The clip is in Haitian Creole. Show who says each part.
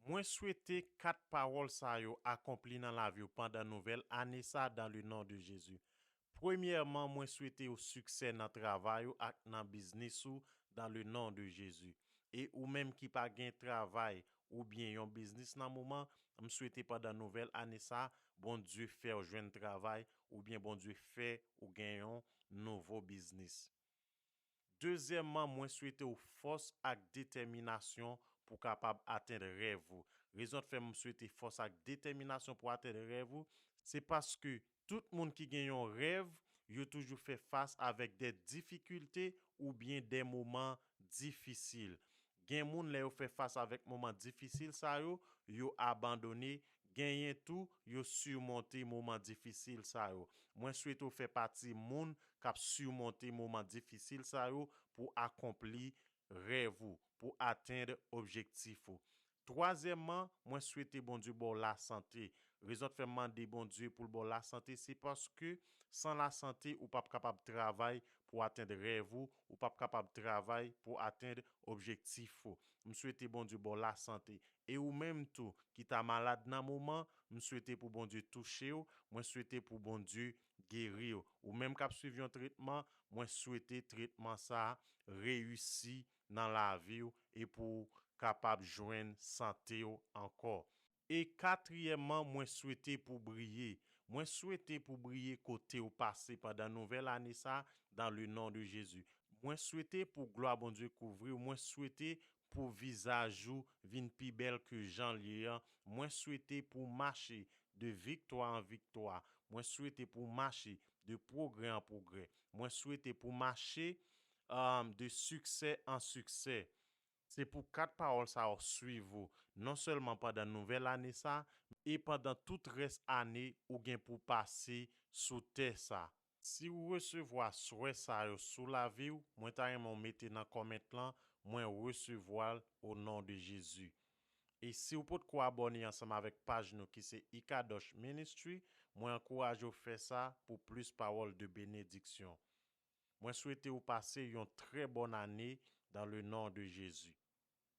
Speaker 1: Mwen swete 4 pawòl sa yo akonpli nan laviw pandan nouvèl ane sa dan le non de Jezi. Premyèman mwen swete ou siksè nan travay ou ak nan biznis ou dan le non de Jezi. E ou menm ki pa gen travay ou byen yon biznis nan moman, m swete pandan nouvèl ane sa Bondye fèw jwenn travay ou byen Bondye fè ou gen yon nouvo biznis. Dezyèmman mwen swete w fòs ak detèminasyon pou kapab atenn rèv ou. Rezon t fè m swete fòs ak detèminasyon pou atenn rèv ou, se paske tout moun ki gen yon rèv, yo toujou fè fas avèk dè difikilte oubyen dè moman difisil. Gen moun lè yo fè fas avèk moman difisil sa yo, yo abandone, genyen tou yo surmonte moman difisil sa yo. Mwen swete w fè pati moun k ap surmonte moman difisil sa yo pou akonpli rèv ou, pou atend objektif ou. Twazyèmman, mwen swete Bondye ba w lasante. Rezon t fè m mande Bondye pou l ba w lasante se paske san lasante ou p ap kapab travay pou atend rèv ou, ou pap kapab travay pou atenn objektif ou m swete Bondye baw la sante e ou menm tou ki ta malad nan moman m swete pou Bondye touchew mwen swete pou Bondye geriw ou menm kap swiv yon tretman mwen swete tretman sa reyisi nan laviw e pouw kapab jwenn santew ankò. E katriyèman mwen swete pou briye, mwen swete pou briye kotew pase pandan nouvèl ane sa dans le nom de Jésus. Mwen swete pou glwa Bondye kouvriw, mwen swete pou vizaj ou vin pi bèl ke janl ye an, mwen swete pou mache de viktwa an viktwa, mwen swete pou mache de pwogrè an pwogrè, mwen swete pou mache de siksè an siksè. Se pou 4 pawòl sa yo swiv ou, non sèlman pandan nouvèl ane sa, men e pandan tout rès ane ou gen pou w pase sou tè sa. Si ou resevwa swè sa yo sou lavi w, mwen ta renmen w mete nan comment lan, mwen resevwa l o non de Jezi. E si ou potko abòne ansanm avèk paj nou ki se Ikadosh Ministry, mwen ankouraje w fè sa pou plis pawòl de benediksyon. Mwen swete ou pase yon trè bòn ane dan le non de Jezi.